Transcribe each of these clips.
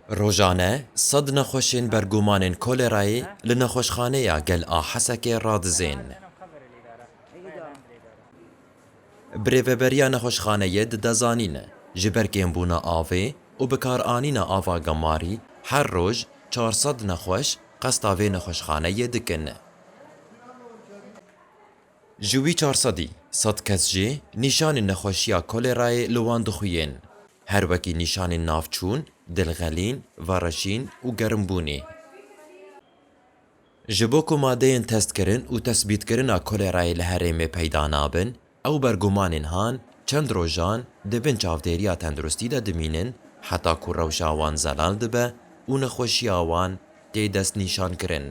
Rojane sed nexweşên bergumanên kolerayê li nexweşxaneya Gel a Hesekê radizên. Bi rêveberiya nexweşxaneyê dide zanîn, ji ber kêmbûna avê û bikaranîna ava gemarî her roj çar sed nexweş qesta vê nexweşxaneyê dikin. Ji wî çar sedî sed kes jî nîşanên nexweşiya kolerayê li wan dixuyên. Her wekî nîşanên navçûn, dilxelîn, vereşîn û germbûnê. Ji bo ku madeyên testkirin û tesbîtkirina kolerayê li herêmê peyda nabin, ew bergumanên han çend rojan di bin çavdêriya tenduristî de dimînin heta ku rewşa wan zelal dibe û nexweşiya wan tê destnîşankirin.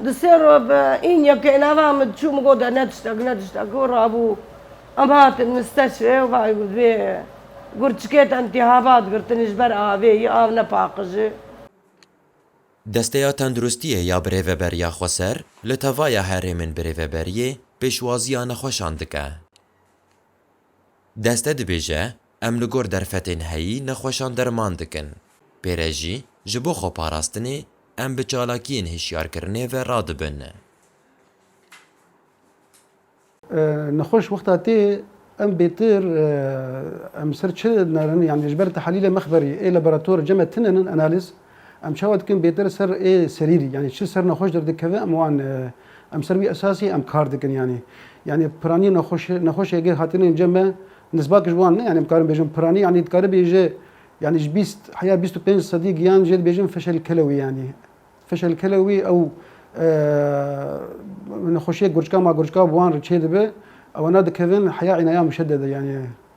Di sê re bi în yekê nava min diçû min gote ne tiştek ne tiştek û rabû. Em hatin misteşrê û vay vê gurçikê tentî habat girtinî ji ber avê yî av ne paqijî. Desteya Tenduristiyê ya Birêveberiya Xweser li tevaya herêmên birêveberiyê pêşwaziya nexweşan dike. Deste dibêje, Em li gor derfetên heyî nexweşan derman dikin. Pê re jî, ji bo xweparastinê, em bi çalakiyên hişyarkirinê ve radibin. Nexweş wexta tê, em bêtir em ser çi nerin, yanî ji ber tehlîlê mexberî ê laborator cem e tune nin analîz. Em çawa dikin bêtir ser ê serîrî yanî çi ser nexweş derdikeve em wan em ser wî esasî em kar dikin yanî yanî piranî nexweş nexweş êgê hatine înce me nisbak ji wan ne yanî em karin bêjin piranî yanî dikaribî ji yanî ji bîst heya bîst û pênc sedî giyan jê dibêjin fişel kelewî yanî fişel kelewî ew nexweşiyê gurçka ma gurçka bi wan re çêdibe ewena dikevin heya înayan muşedede yanî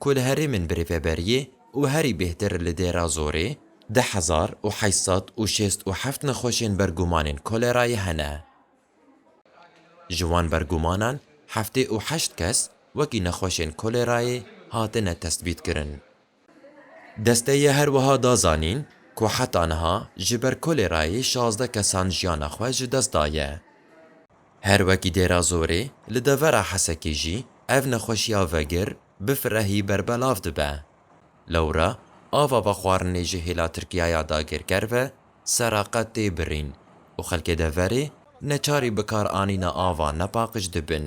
ku li herêmên bi rêveberiyê û herî bêhtir li Dêrazorê deh hezar û heşt sed û şêst û heft nexweşên ber gumanên kolerayê hene. Ji wan bergumanan heftê û heşt kes wekî nexweşên kolerayê hatine testbîtkirin. Desteyê her wiha da zanîn ku heta niha ji ber kolerayê şazdeh kesan jiyana xwe ji dest daye. Her wekî Dêrazorê, li devera Hesekê jî ev nexweşiya vegir bi firehî berbelav dibe. Lewra ava vexwarinê ji hêla Tirkiyaya dagirker ve sera qet tê birîn û xelkê deverê neçarî bikaranîna ava nepaqij dibin.